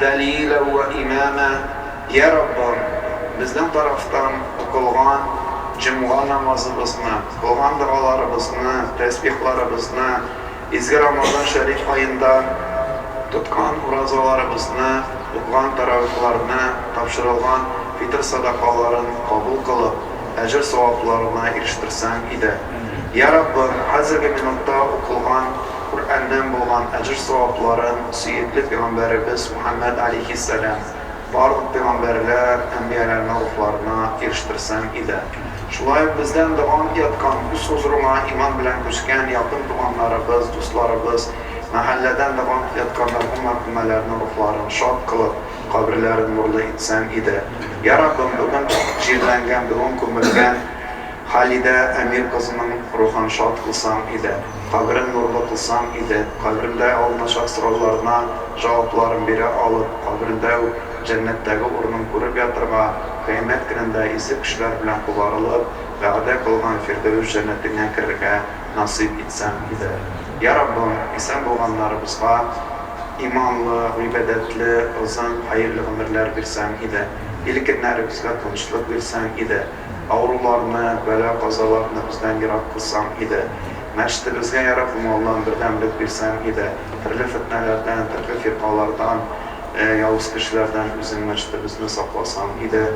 Дәлилә вә имама, Йә Раббым, безнең тарафтан укылган җомга намазыбызны, кылган догаларыбызны, тәсбихларыбызны, изге Рамазан шәриф аенда тоткан уразаларыбызны, укыган тәравихларны, тапшырылган фитыр сәдакаларын кабул кылып, әҗер-савапларына ирештерсәң иде. Йә Раббым, хәзерге минутта укылган. Коръәннән булган әҗер-савапларын сөекле пигамбәребез Мөхәммәд аләйһиссәлам барлык пигамбәрләр, әнбияләрне рухларына ирештерсәң иде. Шулай ук бездән дога яткан, үз хозурыңа иман белән күчкән якын туганнарыбыз, дусларыбыз, мәхәлләдән дога ятканнар һәм мәрхүмәләрнең рухларын шат кылып, каберләрен нурлы итсәң иде. Йә Раббым, бүген җирләнгән, бүген күмелгән Халидә Әмир кызының рухын шат кылсаң иде, каберен нурлы кылсаң иде, каберендә алыначак сорауларына җавапларын бирә алып, каберендә үк җәннәттәге урынын күреп ятырга, кыямәт көнендә изге кешеләр белән кубарылып, вәгъдә кылган Фирдәвес җәннәтеңә керергә насыйп итсәң иде. Йа Раббым, исән булганнарыбызга иманлы, гыйбадәтле, озын, хәерле гомерләр бирсәң иде, ил-көннәребезгә тынычлык бирсәң иде. Авыруларны, бәла-казаларны бездән ерак кылсаң иде. Мәчетебезгә яраклы малдан бердәмлек бирсәң иде. Төрле фетнәләрдән, төрле фиркалардан, явыз кешеләрдән үзең мәчетебезне сакласаң иде.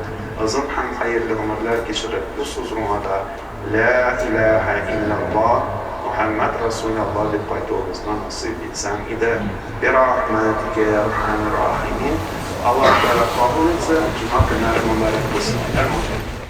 Озын һәм хәерле гомерләр кичереп, бу сузруңада Лә иләһә иллялла, Мөхәммәд рәсүләлла дип кайтуыбызны насыйп итсәң иде. Бирахмәтикә йә әрхәмәр рахимин. Аллаһ Тәгалә кабул итсен. Җомга көннәре мөбарәк булсын. Әмин.